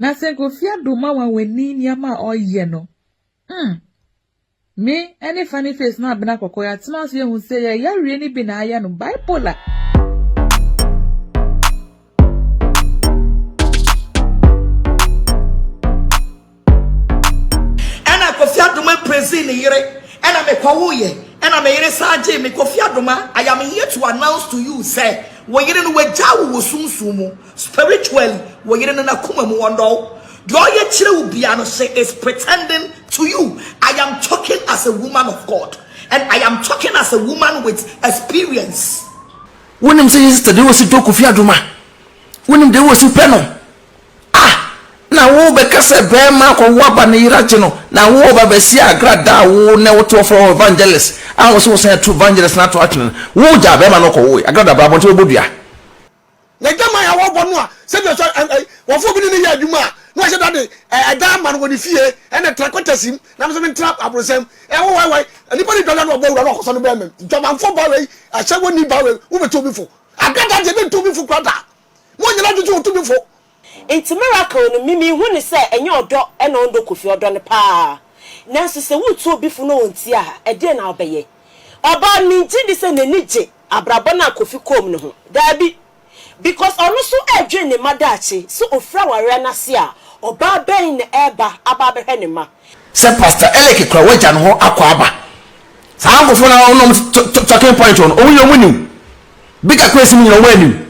Na sɛ Kofi Addo ma wɔn ani nneɛma a ɔyɛ no mm. Me ɛne Funny Face ne Abena Kɔkɔɔ yɛatena ase ahu sɛ yɛn yareɛ no bi na ayɛ no, bipolar. Ɛna Kofi Adoma mprezi ne yere ɛna me kɔwoeɛ ɛna me yere saa gyee me Kofi Adoma I am here to announce to you sɛ wo yere no wagyaa wo wɔ sunsum mu Spiritually wo yere no nakoma mu ɔndɔ wo deɛ ɔyɛ kyerɛ wo bia no she is pretending to you I am talking as a woman of God and I am talking as a woman with experience. Wo nim sɛ yɛ sister deɛ ɔsi dɔ Kofi Adoma wo nim deɛ ɔsi pɛ no ah na wo bɛ ka sɛ bɛɛma akɔ wo aba ne yera gye no na wo bɛ bɛ si agra da wo nɛ wo to ɔfrɛ wo evangelist a wo sɛ wo sɛ to evangelist na to atwene wo gya bɛɛma no kɔ wo agra da bra bɔnte bɛ bɔ dua. N'adwaman a wɔbɔ no a sɛdeɛ sɛ ɛ, ɛ, wɔfoɔ bi ne no yɛ adwuma a, na wahyɛ da de ɛ, ɛdan ama no wɔ ne fie, ɛna tra kwatasim, na me nso mentra abrosɛm. Ɛ, wowai, wai, nnipa no dwadwa no wɔbɔ awura no wɔkɔsɔ no bɛɛmam. Dwamanfoɔ baa wei, ahyɛ wɔnni baa wei, wobɛtu obi fo. Ada da deɛ, ɛbɛntu obi fo koraa da. Monyɛ no adwene sɛ wɔtu obi fo. Nti miracle no me me hu no sɛ ɛnyɛ ɔdɔ na ɔndɔ Kofi ɔdɔ no paa nanso sɛ wo tu obi fo na ɔntia ha ɛdeɛn na wo bɛyɛ ɔbaa no me gye di sɛ n'ani gye abrabɔ no a Kofi kɔɔ mu no ho daabi because ɔno nso ɛdwen ne mma daakye sɛ ɔfiri awareɛ no ase a ɔbaa bɛn na ɛba aba abɛhwɛ ne mma. Sɛ pastor Eleke kura wagya no hɔ akɔ aba saa nkorɔfoɔ no a ɔnom talking point hɔ no ɔmo deɛ ɔmo nim bigger crazy no nyinaa ɔmo anim.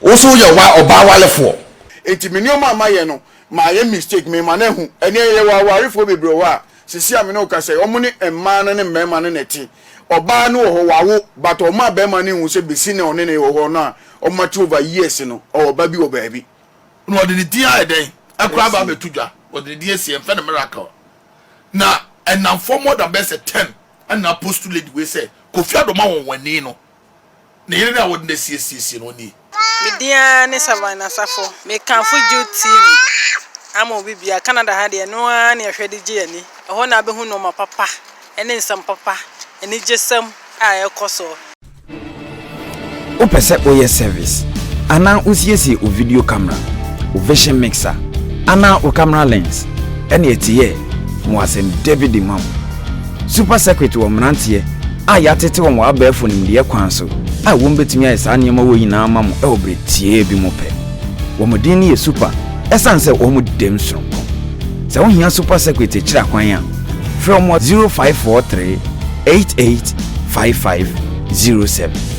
Wo nso woyɛ wa ɔbaa warefoɔ. Nti me nneɛma a mayɛ no mayɛ mistake mema no ahu ɛneɛ yɛwɔ awarefoɔ bebree wɔ hɔ a sesie a me ne wo kasa yi ɔmo ne mmaa no ne mmarima no na ɛte ɔbaa no wɔ hɔ wawo but ɔma barima no nhu sɛ besi nnɛ ɔne no wɔ hɔ no a ɔmo ate over years no ɔwɔ ɔba bi wɔ baabi na ɔde ne din ayɛ dɛn ɛkora aba abɛto dwa ɔde ne din asi yɛnfrɛ no miracle na ɛnamfoɔ more than bɛyɛ sɛ ten ɛna post lady wei sɛ Kofi Adoma wɔn wɔn ani no Ne yere no a wɔde no asiesie no nie. Me din ara ne Savine Asafo. Mekamfo Jude TV ama obi biara. Canada ha deɛ, ɛno ara ne ɛhwɛ de gye ani. Ɛhɔ na wobɛhu nnoɔma papa ne nsɛm papa, anigyesɛm a ɛrekɔ soɔ. Wopɛ sɛ woyɛ service anaa wosiesie wo video camera, wo vision mixer anaa wo camera lens? Ɛnneɛ tiyɛ, ma wɔasɛm Davidi ma wo. Super Circuit wɔ mmeranteɛ a yɛatete wɔn wɔ abɛɛfo nimdeɛ kwan so a wɔbɛtumi ayɛ saa nneɛma wɔ yi nyinaa ama mo wɔ berɛ tiaa bi mu pɛ. Wɔn din no yɛ Super ɛsiane sɛ wɔn dɛm sononko. Sɛ wo hia Super Circuit akyiri akwan a, frɛ wɔn wɔ 0543 885507.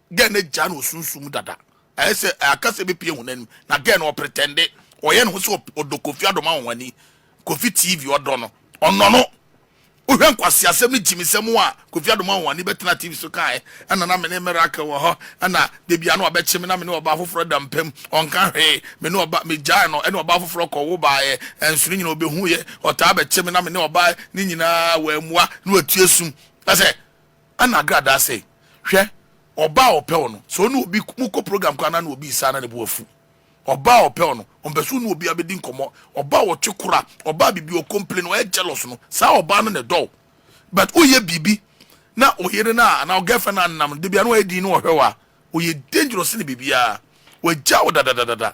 Girl no agyaa no wɔ sunsum mu dada. Ayɛ sɛ akasa bi pue honam mu na girl no ɔpretɛnde, ɔyɛ ne ho sɛ ɔdɔ Kofi Adom ahonhoni, Kofi TV ɔdɔ no, ɔnɔ no. Wohwɛ nkwaseasɛm ne gyimisɛm a Kofi Adom ahonhoni bɛtenaa TV so kaeɛ, ɛna na me ne Miracle wɔ hɔ, ɛna dabi ano ɔbɛkye me na me ne ɔbaa foforɔ da mpa mu, ɔnka hwee, me ne ɔbaa, megyae no, ɛne ɔbaa foforɔ kɔwo baeɛ, ɛnso ne nyinaa ɔbɛhuuiɛ, ɔtaa bɛkye me na me ne ɔbaa, ne nyinaa wammua na watua sum. Kyerɛ sɛ Ɛna agradaa sɛ, Hwɛ, ɔbaa a ɔpɛ wo no, sɛ ɔne obi, mo kɔ program koraa na ne obi resa na ne bo afu. Ɔbaa a ɔpɛ wo no, ɔmpɛ sɛ ɔne obiara bɛdi nkɔmmɔ. Ɔbaa a ɔtwe kora, ɔbaa a biribi ɔ complain, ɔyɛ jealous no, saa ɔbaa no na ɛdɔ wo. But woyɛ biribi na wo yere no a, anaa wo girlfriend no a nam no, da biara na wayɛ dinn na ɔhwɛ wo a, ɔyɛ dangerous sene biribiara. Wagya wo dadadadada.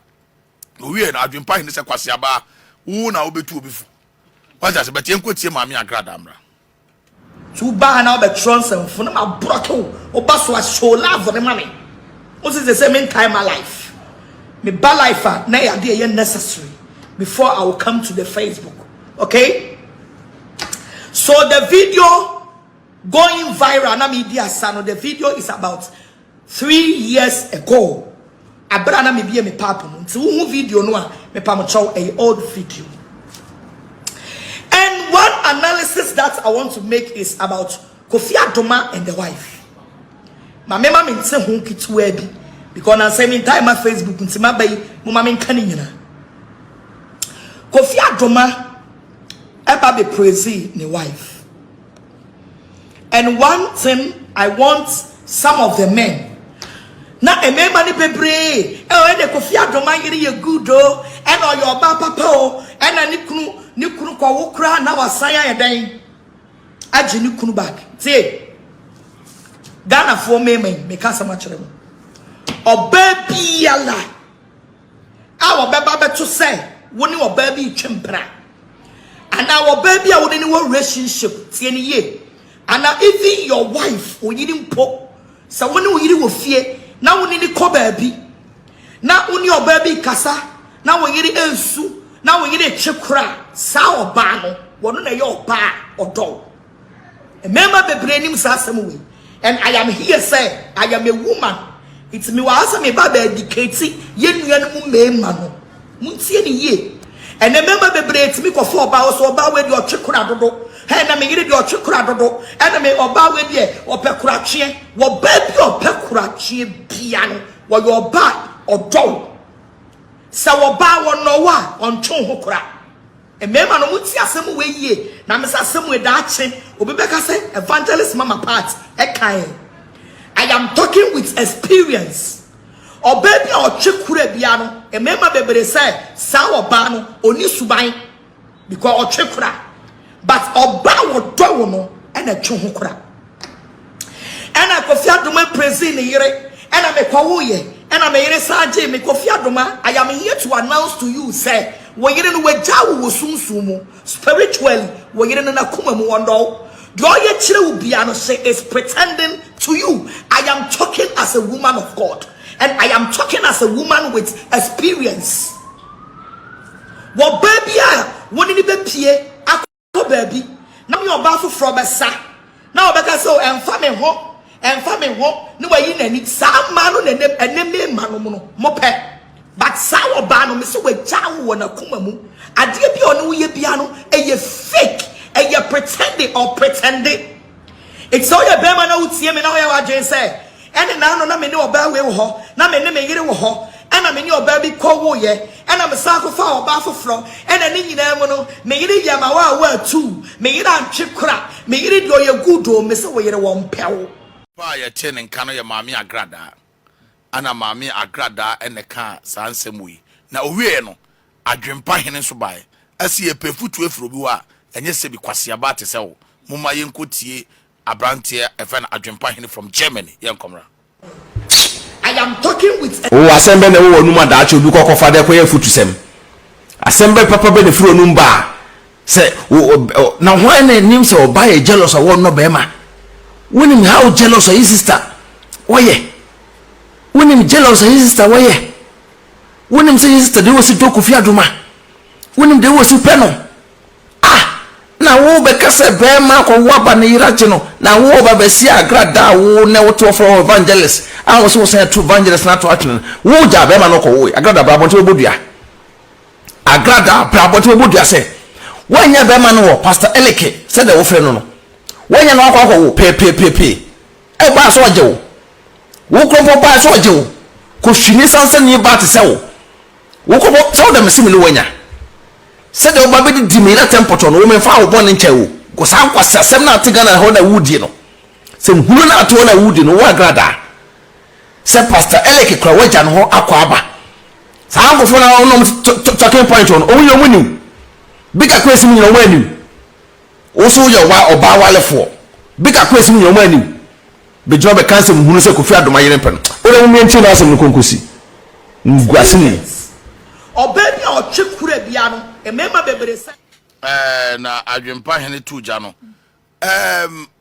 Ɔwieɛ no, adwene pa he ne sɛ, Kwaseaba, wo na wobɛtu obi fo. Woate aseɛ? But yɛnkɔ tie Maame Agradaa mmra. So wo ba ha na wobɛtwerɛ nsɛmfo na ma brɔke wo wo ba so a show love ne ma me wo se sɛ sɛ me ntae ma life me ba life a na ɛyɛ adeɛ ɛyɛ necessary before I will come to the Facebook okay so the video going viral na me di asa no the video is about Three years ago aber a na mebue me papo no, ntsi wohu video no a, mepa mo kyɛw, ɛyɛ old video. And one analysis that I want to make is about Kofi Adoma and the wife. Ma me ma me nte ho ketewa bi because na nsɛm ntae ma Facebook nti ma bɛyi mo ma me nka ne nyina. Kofi Adoma ɛba be praise ne wife. And one thing I want some of the men na mmarima no bebree ɛwɔ ɛna kofi adom ayere yɛ good o ɛna ɔyɛ ɔbaa papa o ɛna ne kunu ne kunu kɔwo koraa na wasan ayɛ dɛn agye ne kunu back tie ghanafoɔ mmarima yi meka asɛm akyerɛ mu ɔbaa biara a wɔbɛba abɛto sɛ wo ne ɔbaa bi retwa mpena anaa ɔbaa bi a wo ne no wɔ relationship tie no yie anaa even your wife oyiri mpo sɛ wo ne oyiri wɔ fie na wo ne no kɔ baabi na wo ne ɔbaa bi kasa na wo yere ansu na wo yere kye kora saa ɔbaa no wɔn na ɛyɛ ɔbaa ɔdɔw Mmarima bebree nim saa asɛm wei and I am here sɛ I am a woman nti mewɔ ha sɛ meba bɛ educate yɛn nuanom mmarima no. Montie ne yie. Ɛnɛ mmarima bebree tumi kɔfa ɔbaa wɔ so ɔbaa wei deɛ ɔtwe kora dodo. Hɛn na me yere deɛ ɔtwe kora dodo. Ɛna me ɔbaa wei deɛ ɔpɛ koratweɛ. Wɔ baa bi a ɔpɛ koratweɛ bia no wɔyɛ ɔbaa ɔdɔ wo. Sɛ ɔbaa wɔnɔ wo a ɔntwe wo ho kora. Mmarima no mo tie asɛm wei yie na me sɛ asɛm wei daakye obi bɛka sɛ evangelist mama part ɛkae I am talking with experience ɔbaa bi a ɔtwe kura bia no mmarima bebree sɛ saa ɔbaa no ɔni suban because ɔtwe kura but ɔbaa wɔdɔ wo no ɛna ɛtwe ho kura Ɛna Kofi Adoma prezii ne yere ɛna me kɔwoeɛ ɛna me yere san gyee me Kofi Adoma I am here to announce to you sɛ wo yere no wagyaa wo wɔ sunsum mu spiritually wo yere no n'akoma mu ɔnnɔ wo deɛ ɔyɛ kyerɛ wo biara no she is pretending to you I am talking as a woman of God and I am talking as a woman with experience wɔ baa bi a wo ne ne bɛpie akɔ. kɔ baabi na me ɔbaa foforɔ bɛsa na ɔbɛka sɛ oh, ɛmfa me ho ɛmfa me ho ne wayi n'ani saa mmaa no na ɛne me mma no no mopɛ but saa ɔbaa no mesɛ wagya wo wɔ n'akoma mu adeɛ bi a ɔne woyɛ bia no ɛyɛ fake ɛyɛ pretending or pretending Enti sɛ woyɛ barima na wotie me na woyɛ w'adwene sɛ, 'Ɛne n'ano na me ne ɔbaa wei wɔ hɔ, na me ne me yere wɔ hɔ, ɛnna me ne ɔbaa bi kɔwoeɛ, ɛnna mesan kɔfaa ɔbaa foforɔ, ɛnna ne nyinaa mu no, me yere yɛɛ m'awaawa atuu, me yere antwe kora, me yere deɛ ɔyɛ good o, mese wo yere wɔmpɛ wo. Papa a yɛtee ne nka no yɛ Maame Agradaa. Ana maame Agradaa na ɛkaa saa nsɛm wei, na ɔwieeɛ no, Adwempa hene nso baeɛ. Ɛse yɛpɛ afutuo afiri obi hɔ a, ɛnyɛ sɛbi kwasea baa te sɛ wo. Momma yɛnkɔtie aberanteɛ a yɛfrɛ no Adwempa hene from Germany, yɛnkɔ mmra. I am talking with a. Oo asɛm bɛn na ɛwɔ w'anom a daakye obi kɔ kɔfa de kɔyɛ afutusɛm? Asɛm bɛn papa bɛn na ɛfiri w'anom ba a Sɛ wo ɔ ɔ na hwan na ɛnim sɛ ɔbaa yɛ jealous a wɔnnɔ bɛrima? Wonim how jealous ayi sister wɔyɛ? Wonim jealous ayi sister wɔyɛ? Wonim sɛ yi sister deɛ wɔsi dɔ kofi adoma? Wonim deɛ wɔsi pɛ no? Ah! Na wo bɛka sɛ bɛrima akɔ wo aba ne yera gye no na wo ba bɛsi agra da a wo nɛ wote wɔfrɛ wɔ evangelist a wɔsi wɔsan atu evangelist no ato atwene no wo gyaa bɛrima no kɔ wo agrada bra abɔnten bɛbɔ dua. Agrada bra abɔten bɛbɔ dua sɛ woannya bɛrima no wɔ Pastor Eleke sɛdeɛ wofrɛ no no. Woannya no akɔ akɔwo peepeepeepee. Ɛbaa sɛ ɔgye wo. Wo koro mpo baa sɛ ɔgye wo. Kɔhwini sansani baa te sɛ wo. Wo koro mpo sɛ wodɔ me se me ne wo anya. Sɛdeɛ woba bɛdidi me na tɛmpɔtɔ no wo memfaa wo bɔne nkyɛɛ wo. Kɔ saa nkwaseasɛm no a ate Ghana hɔ na wodie no. Sɛ nhunu no a ate hɔ na wodie no wo Agrada. sɛ pastor Elek kura wagya no hɔ akwaaba saa nkofo na ɔnom talking point wɔn ɔmo yɛ ɔmo nim bika kura esim nyina ɔmo anim woso yɛ wa ɔbaa walefoɔ bika kura esim nyina ɔmo anim bɛgyina bɛ kansɛm hunu sɛ kofi adoma yere mpɛ no ɔdɛ mo miɛntie na asɛm no konkosi nguase ni ɔbaa bi a ɔtwe kura bia no mmarima bebree sɛ. Ɛɛ na adwempa hene tu gya no ɛɛm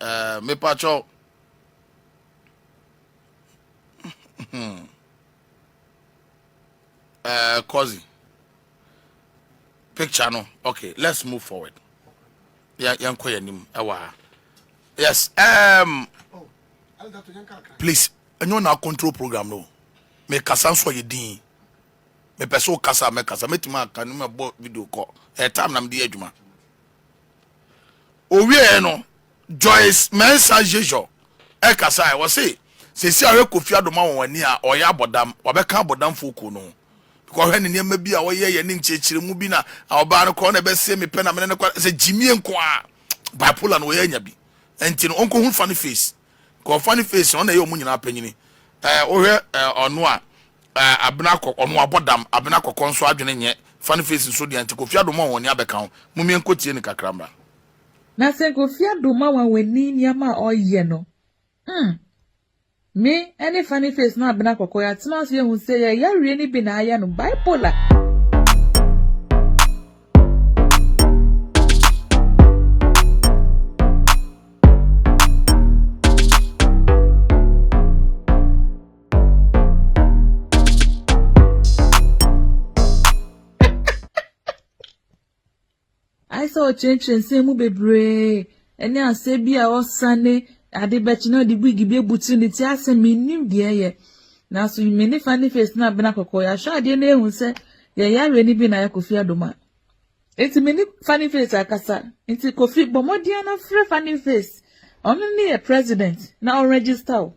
Eh, mepakyɛw. eh, Kozi. Picture no. Okay, let's move forward. Yeah, yeah, yeah, yeah, Yes. Um, please, ɛnyɛ na control program no. Me kasa nso yɛ din. Me pɛ so kasa me kasa. Me tuma aka no me bɔ video call. Eh, time na me di adwuma. Ɔwieɛ no, Joyce Mensah Jejor kasaeɛ, ɔse seesei a ɔyɛ Kofi Addo ma wɔn ani a ɔyɛ abɔdam, wabɛka abɔdamfoɔ kuo no ho. Because ɔhwɛ ne nneɛma bi a ɔyɛeɛ ne nkyerɛkyerɛmu bi na ɔbaa no koraa na ɛbɛsee me pɛ na mene no kɔ, sɛ gyimie nko ara, bipolar no ɔyɛ anya bi, ɛnti no ɔnkɔhunu fa no face. Kɔ funny face no ɔna ɛyɛ ɔmo nyinaa panyini eh wohwɛ eh ɔno a eh abena kɔ ɔno abɔ dam abena kɔkɔ nso adwene nyɛ funny face nso deɛ nti Kofi Adoma wɔn ani abɛka ho momie nkɔ tie no kakra mmra. Na sɛ Kofi Adoma wɔn wani nneɛma a ɔyɛ no hmm me ɛne funny face ne abena kɔkɔ yɛatena ase yɛahu sɛ yɛn yareɛ no bi na ayɛ no bipolar. ayɛ sɛ ɔkyerɛkyerɛ nsɛm mu bebree ɛne asɛ bi a ɔsane ade bɛkye na ɔde wig bi abutu ne ti asɛ menim deɛ ɛyɛ nanso me ne fa ne face no abena kɔkɔɔ yɛahwɛ adeɛ no ehu sɛ Yɛyɛ awɛni bi na ayɛ Kofi adom a, nti me ne Funny Face akasa. Nti Kofi bɔ mmɔden na frɛ Funny Face. Ɔno ne yɛ president na ɔnregister wo.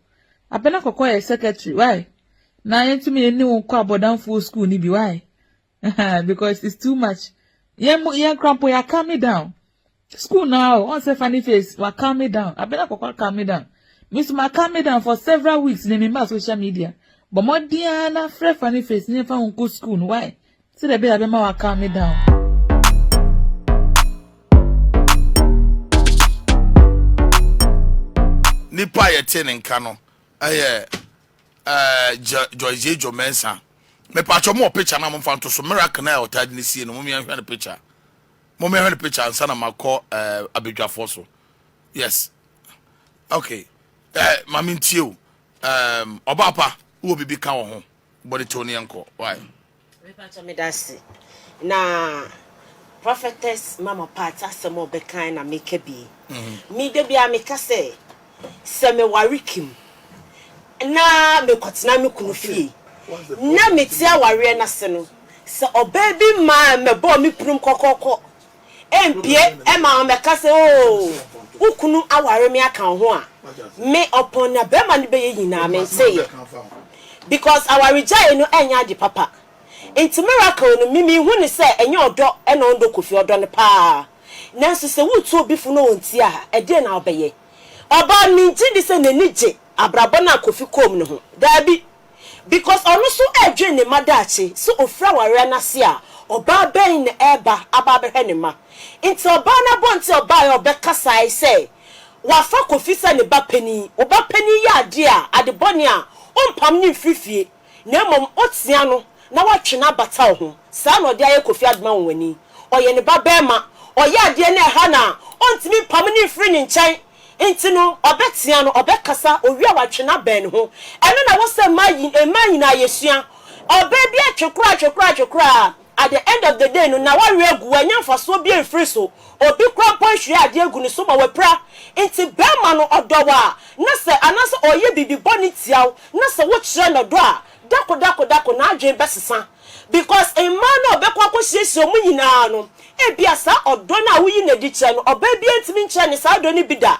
Abena Kɔkɔɔ yɛ secretary, why? Na yɛntumi yɛnni wo nkɔ abɔdamfoɔ school no bi, why? Ahaa, because it's too much. Yɛn mo, yɛn kora mpo yɛaka me down. School no ara o, ɔn sɛ funny face, wa calm me down, Abena Kɔkɔɔ calm me down. Me nso ma calm me down for several weeks na memmaa social media. Bɔ mmɔden ara na frɛ funny face na yɛmfa wo nkɔ school no, why? Sɛdeɛ ɛbɛyɛ a bɛma wa calm me down. Nipa a yɛte ne nka no yɛ eh, Joyce Jejo Mensah. Mepatwɔ mo wɔ picture no a momfa nto so. Miracle no a ɔtaa de no sie no, mom yɛnhwɛ no picture. Mo me hwɛ picture ansa na ma kɔ eh, abadwafoɔ so yes ok eh, ma me ntie o um, ɔbaa pa wowɔ biribi ka wɔ ho bɔde kyɛw ne yɛnkɔ why mepatɔ meda ase na prophetess mama part asɛm a ɔbɛkan na meka bi mhm. me da biara meka sɛ sɛ meware Kim na mekɔtena me kunu fie. Ná mete awareɛ no ase no, sɛ ɔbaa bi maa mɛbɔɔ me pirim kɔkɔɔkɔ. Ɛmpie ɛmaa wɔbɛka sɛ, Oo, wo kunu aware me aka wo ho a. Me, ɔpɔn na barima no bɛyɛ nyinaa, menteeɛ. Because awaregyaeɛ no ɛnyɛ ade papa. Enti Miracle no, me menhu no sɛ ɛnyɛ ɔdɔ na ɔnnɔ Kofi, ɔdɔ no pa ara. Nanso sɛ wotu obi fo na ontie a, ɛdeɛn na wobɛyɛ? Ɔbaa, mengye di sɛ n'ani gye abrabɔ no a Kofi kɔm no ho. Daabi. Because ɔno nso ɛredwen ne mma daakye. Sɛ ɔfiri awareɛ no ase a, ɔbaa bɛn na ɛreba aba abɛhwɛ ne mma? Nti ɔbaa no abɔnten a ɔbaeɛ a ɔbɛkasae sɛ wafa Kofi sɛ ne ba panin. Wo ba panin yɛ adeɛ a, ade bɔne a, wompam no mfiri fie. na mmom otia no na watwe no abata ho. Saa na ɔde ayɛ Kofi Adoma Nwonwani. Ɔyɛ ne ba barima. Ɔyɛ adeɛ no a ɛha no a, ɔntumi mpamo no mfiri ne nkyɛn. Nti no, ɔbɛtea no, ɔbɛkasa, owie a watwe no abɛn ne ho. Ɛno na ɛwɔ sɛ mmaa yi, mmaa nyinaa yɛsua. Ɔbaa bi atwe koraa, atwe koraa, atwe koraa a, At the end of the day no, na wawe agu, wannya mfasoɔ biara mfiri so. Obi koraa mpo anhwie adeɛ agu ne so ma wapira. Enti barima no, ɔdɔ wo a, na sɛ, anaasɛ ɔreyɛ biribi bɔne tia wo, na sɛ wokyerɛ no ɔdɔ a, dako dako dako, n'adwene bɛsesa. Because mmaa no a ɔbɛkɔ akɔhyiahyia wɔn nyinaa no, ebia saa ɔdɔ no a woyi no adi kyerɛ no, ɔbaa biara ntumi nkyerɛ no saa ɔdɔ no bi da.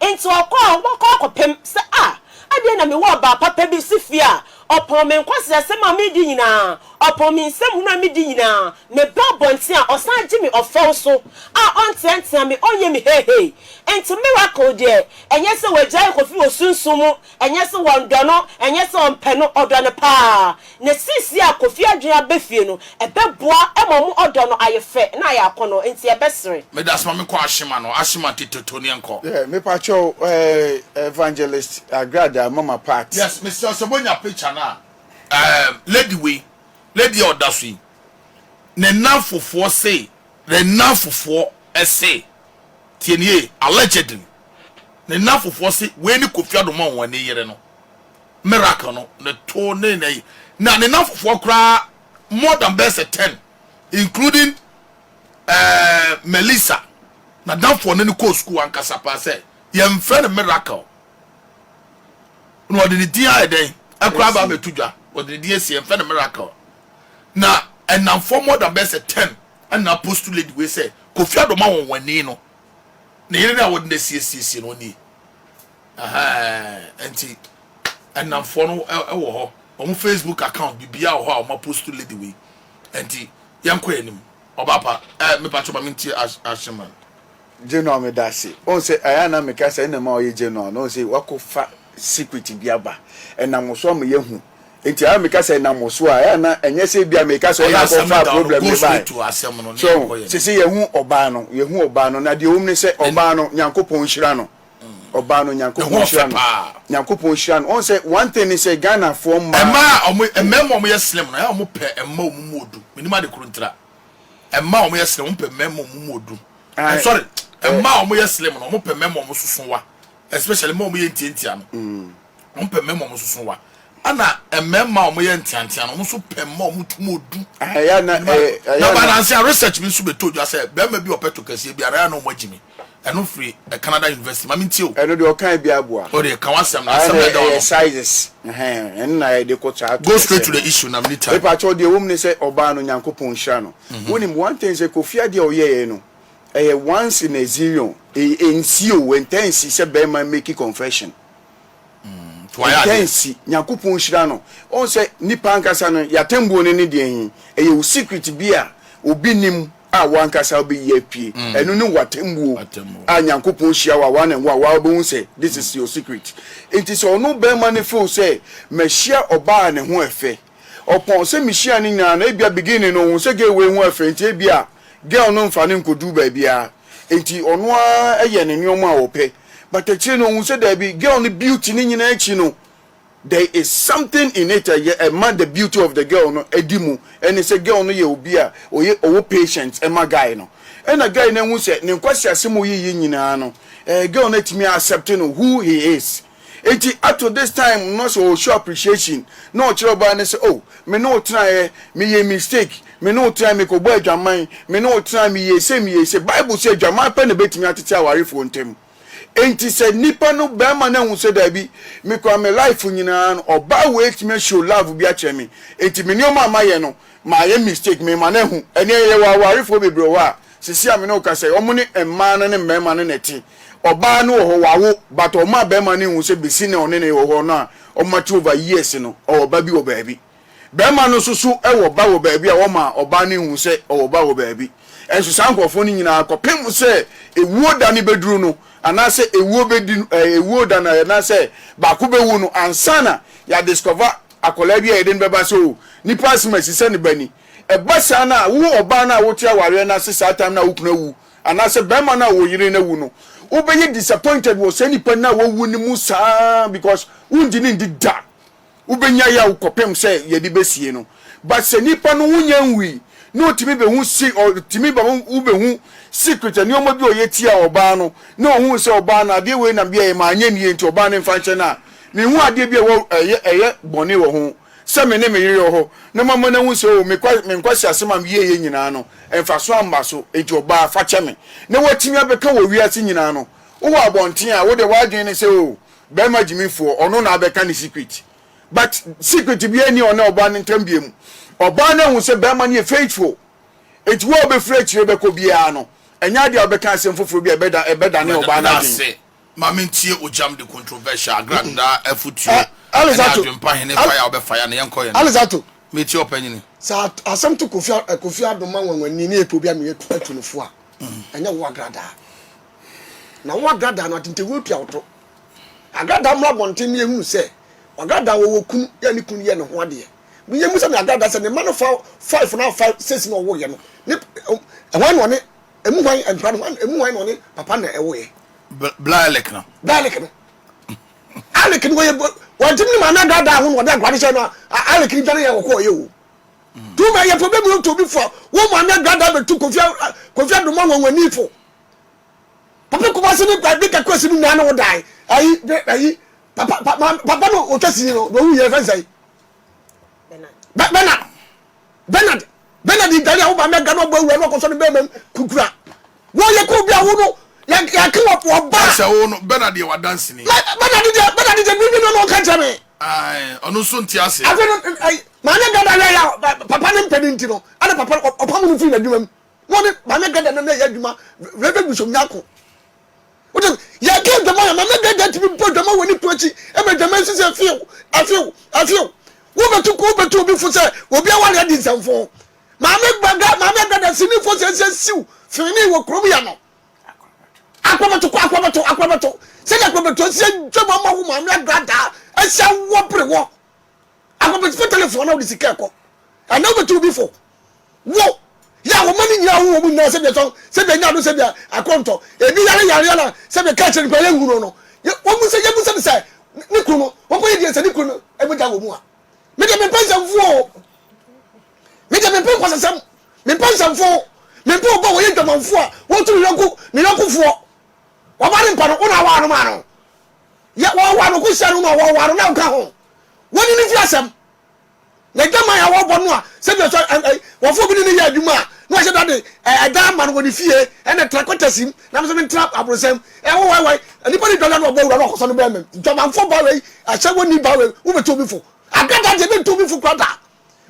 Enti ɔkɔ a, ɔbɛkɔ akɔpem sɛ, Ah, adɛn na mewɔ ɔbaa papa bi si fie a, Ɔpɔn me nkwaseasɛm a meredi nyinaa, ɔpɔn me nsɛm hunu a medi nyinaa. Meba abɔnten a, ɔsan gye me ɔfɛw so a, ɔnteatea me, ɔnyɛ me heihei. Enti miracle deɛ, ɛnyɛ sɛ wɔagyaa yɛ Kofi wɔ sunsum mu, ɛnyɛ sɛ wɔndɔ no, ɛnyɛ sɛ wɔmpɛ no, ɔdɔ no paa. Na seesei a Kofi adwene aba fie no, Ɛbɛboa ma wɔn ɔdɔ no ayɛ fɛ na ayɛ akɔnɔ, enti ɛbɛsere. Meda soma me kɔ Ashima no Ashima tete to neɛ nkɔ. Yeah me pa kyɛw eh evangelist agrada mama part. Yes mesrɛ sɛ monya picture no a. Ehm lady wei lady a ɔda so yi ne nnamfofoɔ se ne nnamfofoɔ se tie no yie allegedly ne nnamfofoɔ se wei ne Kofi Addo ma wɔn ani yere no. miracle no ne to ne nɛ yi na ne namfofoɔ koraa more than bɛyɛ sɛ ten including eh, Melissa na damfoɔ ne ne kɔɔ sukuu ankasa paa sɛ yɛmfrɛ no miracle na ɔde ne din ayɛ dɛn ɛkoraa ba abɛto dwa ɔde ne din asi yɛmfrɛ no miracle na ɛnamfoɔ more than bɛyɛ sɛ ten ɛna post lady wei sɛ Kofi Adoma wɔn wani no ne yere no a wɔde no asiesie no ɔnie Ɛhɛɛɛɛ nti ɛnamfoɔ no wɔ hɔ ɔmo Facebook account bibia wɔ hɔ a ɔmo apost lady wei nti yɛnkɔ yɛn anim ɔbaa pa ɛɛ me pakyɛ ma me ntie ahyɛ man. Genoa medase wohu sɛ ɛyɛ a na meka sɛ ɛna ɛma ɔyɛ Genoa no wohu sɛ wako fa secret bi aba ɛnam wo so ama yɛahu nti ɛyɛ a meka sɛ ɛnam wo so a ɛyɛ a na ɛnyɛ sɛ ebia meka sɛ ɔna akɔ faa problem no baɛ so seesei yɛhu ɔbaa no yɛhu ɔbaa no na deɛ ɛwom ne sɛ ɔbaa no Nyankopɔn nhyira no Ɔbaa no Nyankopɔn nhyira no Nyankopɔn nhyira no ɔn sɛ one thing ne sɛ Ghana foɔ mmaa. Mmaa a ɔmo mmɛɛma ɔmo yɛ slim no ɛyɛ a ɔmo pɛ mmaa ɔmo mu odu menim ade koro ntira mmaa ɔmo yɛ slim ɔmo pɛ mmɛɛma ɔmo mu odu eh, sorry mmaa ɔmo yɛ slim no ɔmo pɛ mmɛɛma ɔmo soso wa especially mmaa ɔmo yɛ ntiantia no mm. Wɔpɛ mmarima a wɔsoso wa, ɛna mmarima a wɔyɛ nteantea no, wɔn nso pɛ mma a wɔtum odu. Ɛyɛ na ɛyɛ na. Nanansia research bi nso bɛtoo dwa sɛ barima bi a ɔpɛ tokɛseɛ biara ɛyɛ a na wɔagye me. Ɛno firi Canada University. Ma mentie o. Ɛno deɛ ɔkae biara boa. O deɛ ka w'asɛm no, asɛm na ɛda hɔ no. Ɛyɛ sizes, ɛhɛn, ɛno na yɛde kɔ saa tokɛseɛ no. Go straight to the issue na menni time. Mepa kyɛw, deɛ ɛwɔ mu ne sɛ ɔbaa no Nyankopɔn nhyira no. Wonim, one thing sɛ Kofi adeɛ a ɔyɛeɛ no, ɛyɛ once in a zillion. Ɛnsi o, ɛntaa nsi sɛ barima make confession. Ɔgyae nsi. Nyankopɔn nhyira no. Wohu sɛ nipa ankasa no y'atembuo no ne deɛn he? Ɛyɛ wo secret bi a obi nnim a wo ankasa wobɛyi apue. Ɛno ne wo atembuo a Nyankopɔn hyia wo a one on one woaa wobɛhu sɛ this is your secret. Nti sɛ ɔno barima no feel sɛ mahyia ɔbaa a ne ho ɛfɛ, ɔpɔn sɛ mihyia no nyinaa no ebia beginning no ohun sɛ girl wei ho yɛ fɛ nti ebia girl no mfa no nkodu baabiara nti ɔno ara yɛ ne nneɛma a ɔpɛ but akyire no ohun sɛ daabi girl no beauty ne nyinaa akyi no there is something in it a yɛ ɛma the beauty of the girl no adi mu ɛne sɛ girl no yɛ obi a ɔyɛ ɔwɔ patient ɛma guy no ɛna guy no ahu sɛ ne nkwasiasɛm a ɔyɛ yi nyinaa no ɛɛ girl no atumi a accept no who he is. Enti up to this time no sɛ ɔ show appreciation na ɔkyerɛ ɔbaa no sɛ oh me ne wo tenaeɛ me yɛɛ mistake, me ne wo tenaeɛ me kɔbɔɔ adwaman, me ne wo tenaeɛ me yɛɛ sei me yɛɛ sei. Bible sɛ adwaman pɛ na ɛbɛtumi atete awarefoɔ ntam. Enti sɛ nipa no barima no ahu sɛ daabi me koraa me life nyinaa no ɔbaa wei atumi a show love bi akyerɛ me enti me nneɛma a mayɛ no Mayɛ mistake me ma no ahu. Ɛneɛ yɛwɔ awarefoɔ bebree wɔ hɔ a sesie a me ne wo kasa yi ɔmo ne mmaa no ne mmarima no na ɛte. Ɔbaa no wɔ hɔ wawo but ɔma bɛrima no nhu sɛ besi nɛ ɔne no wɔ hɔ no a ɔmo ate over years no ɔwɔ ba bi wɔ baabi. Bɛrima no nso so wɔ ba wɔ baabi a ɔma ɔbaa no nhu sɛ ɔwɔ ba wɔ baabi. Ɛnso saa nkorɔfoɔ no nyinaa kɔpem sɛ ewuo da no bɛduru no anaa sɛ ewuo bɛdi no ɛɛ ewuo da no anaasɛ baako bɛwu no ansa na yɛ a discover Akwadaa bi a yɛde no bɛba sɛ oh nipa asem asi sɛ ne ba ni. Ɛba saa no a wo ɔbaa no a wote awareɛ no ase saa time no a wo kunu awu anaasɛ barima no a wo yere no awu no wo bɛyɛ disappointed wɔ saa nipa no a wawu no mu saa because wo ngye no ndi da. Wo bɛnya yaw kɔpem sɛ yɛde bɛsie no. But sɛ nipa no wo nya nwui na ɔtumi bɛhu se ɔtumi ba wo bɛhu secret nnoɔma bi a ɔyɛ tia ɔbaa no na ɔhu sɛ ɔbaa no adeɛ wei na meɛyɛ ma anyɛ nie nti ɔbaa no mfa nhyɛ no a Menhu adeɛ bi a ɛwɔ ɛyɛ ɛyɛ bɔne wɔ ho sɛ me ne me yere wɔ hɔ na mama no ahu sɛ o me kwa me nkwaseasɛm a meyɛeɛ nyinaa no mfasoɔ amma so enti ɔbaa fa kyɛ me na woatumi abɛka wɔ wiase nyinaa no wowɔ abɔnten a wodeɛ w'adwene ne sɛ o barima gyimifoɔ ɔno na abɛka ne secret but secret biara nni ɔne ɔbaa no ntam biam ɔbaa no ahu sɛ barima no yɛ faithful enti wo a wobɛfiri akyire bɛkɔ biara no ɛnyɛ adeɛ a wobɛka asɛm foforɔ bi a ɛbɛda ɛbɛdane ɔbaa no adwene. Ma mentie ogyam de controversial agrad daa afutuo ɛne adwenpa hene fire a wobɛfa ya no yɛnkɔ yɛn no metie ɔpanyini. Sɛ asɛm to Kofi Kofi Addo ma nwanwani ne epo bi a meyɛ atu no fo a ɛnyɛ wo agradaa na wo agradaa no atentewuo tua wo to agradaa mmra abɔnten ne yɛhunu sɛ wagradaa wɔwɔ kunu yɛ ne kunu yɛ ne ho adeɛ me yɛmu sɛ me agradaa sɛ ne ma no fa five no a five six na ɔwoyɛ no ne ɛhwan na ɔne Emu hwan, nkra no hwan, emu hwan na ɔne papa na ɛwo yɛ? Blaalek no. Blaalek no. Alek no wɔyɛ wɔntumi ne maame adaadaa ho na wɔde agorade hyɛ no a Alek no dwane yɛ wɔkɔɔ yɛ o. Mm. Tuma yɛ pɛ bɛmu to bi fo wo maame adaadaa bɛtu kofia kofia doma nwanwani fo. Papa kuma se ne kwa de kakɔ si no nane wo dan. Ayi ayi papa papa no otwa si no do wu yɛ fɛnsɛn. Bernard. Bernard. Bernard Bernard ntare a woba mɛga no ɔbɔ awura no ɔkɔsɔ no bɛrima mu kukura wɔyɛ kɔ obi a wo no yɛake wɔ ɔba sɛ wo no Bernard yɛ wadanseni Bernard deɛ Bernard deɛ biribi no na ɔka kyerɛ me ɔno nso nte ase afei no maame gada yɛ ya papa ne mpɛ no nti no ɛna papa ɔpam no firi n'adwuma mu na ɔne maame gada no na ɛyɛ adwuma Reverend Bishop Nyako wote yɛka adwama a mama dada tumi bɔ dwama wɔ ne to akyi ma dwama nsi sɛ few afew afew wobɛto ko wobɛto obi fo sɛ obi aware adi nsɛmfo maame baga maame dada sinifo sɛ sɛ siw fini wɔ kurom yɛ no akɔbɛto kɔ akɔbɛto akɔbɛto sɛdeɛ akɔbɛto asia dwama ma wo maame dada asia wɔ bere wɔ Akɔpetefo telefon na wode sika ɛkɔ. Ɛnɛ wobɛtu obi fo. Wo yɛ a wɔma no nyina wo wɔn nyinaa sɛdeɛ tɔn sɛdeɛ nya do sɛdeɛ akɔntɔ ebi yare yareɛ na sɛdeɛ ka kyerɛ no kura yɛ nhunu no wɔn sɛ yɛ busa no sɛ ne kunu no wɔkɔ yɛ deɛ sɛ ne kunu no ɛmu gya wɔ mu a me deɛ mempɛ nsɛmfo o me deɛ mempɛ nkwasasɛm mempɛ nsɛmfo mempɛ obi a wɔyɛ dwamanfo a wɔtu ne yɔnko ne yɔnkofoɔ wɔba ne mpa no wo na awa no maa no Yɛ wɔn wɔ anokohyia no mu a wɔwɔ anonan ka ho. Wonni no fi asɛm. Na adwaman a wɔbɔ no a sɛdeɛ ɔsɔ ɛ ɛ wɔfoɔ bi ne no yɛ adwuma a na wɔhyɛ da de ɛ ɛdan ama no wɔ ne fie ɛna tra kwatasim na me nso mentra abrosɛm ɛ wo wai wai nipa ne dwadwa na ɔbɔ awura na ɔkɔsɔ no bɛɛmam dwamanfoɔ ba wei ahyɛ wɔnni ba wei wobɛtu obi fo adada deɛ bɛntu obi fo kora da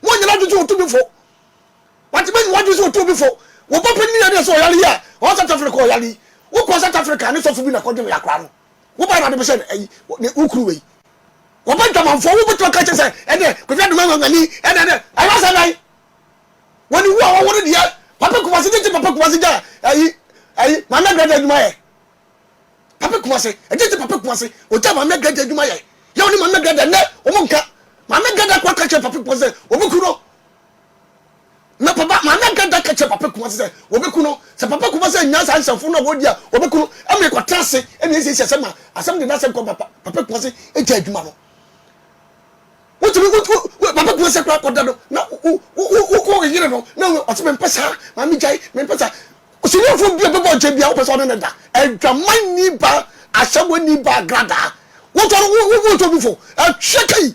monyɛ no adwene sɛ wɔtu bi fo wate mɛnyi wɔadwene sɛ wɔtu obi fo wɔbɔ panyin yɛ deɛ sɛ ɔyare yi a ɔwɔ South Africa ɔyare yi wokɔ South Africa ne sɔfo bi na kɔdwe no yɛ akora no wo ba na de bɛhyɛ ayi wo kuru wei wɔbɛ dwamanfoɔ wo bɛtuma ka kyɛ sɛ ɛnɛ kɔfia duma ngangani ɛnɛ ɛnɛ ɛyɛ sɛ nan wɔn ni wu a wɔwɔ no deɛ papa kumase gyegye papa kumase gya ayi ayi maame agradeɛ adwuma yɛ papa kumase gyegye papa kumase ɔgya maame agradeɛ adwuma yɛ yɛ wɔn ni maame agradeɛ ɛnɛ wɔn nka maame agradeɛ akɔ aka kyɛ papa kumase wɔbɛ kuru no Na papa maame ankanta ka kyerɛ papa kumase sɛ wɔbɛku no. Sɛ papa kumase annya saa nsɛmfo no a wɔdi a wɔbɛku no ma ɛkɔtena ase na ɛsiesie asɛm a asɛm de n'asɛm kɔ ma papa kumase gya adwuma no. Wotumi wo papa kumase koraa kɔda no na wo yere no na ɔsɛ mempɛ saa maame gyae mempɛ saa. Osiniafo bi a bɛbɔ ɔgya bi a wopɛ sɛ ɔne ne da adwaman ni ba asɛm ni ba gradaa wotɔ no wotɔ bi fo atwɛ kai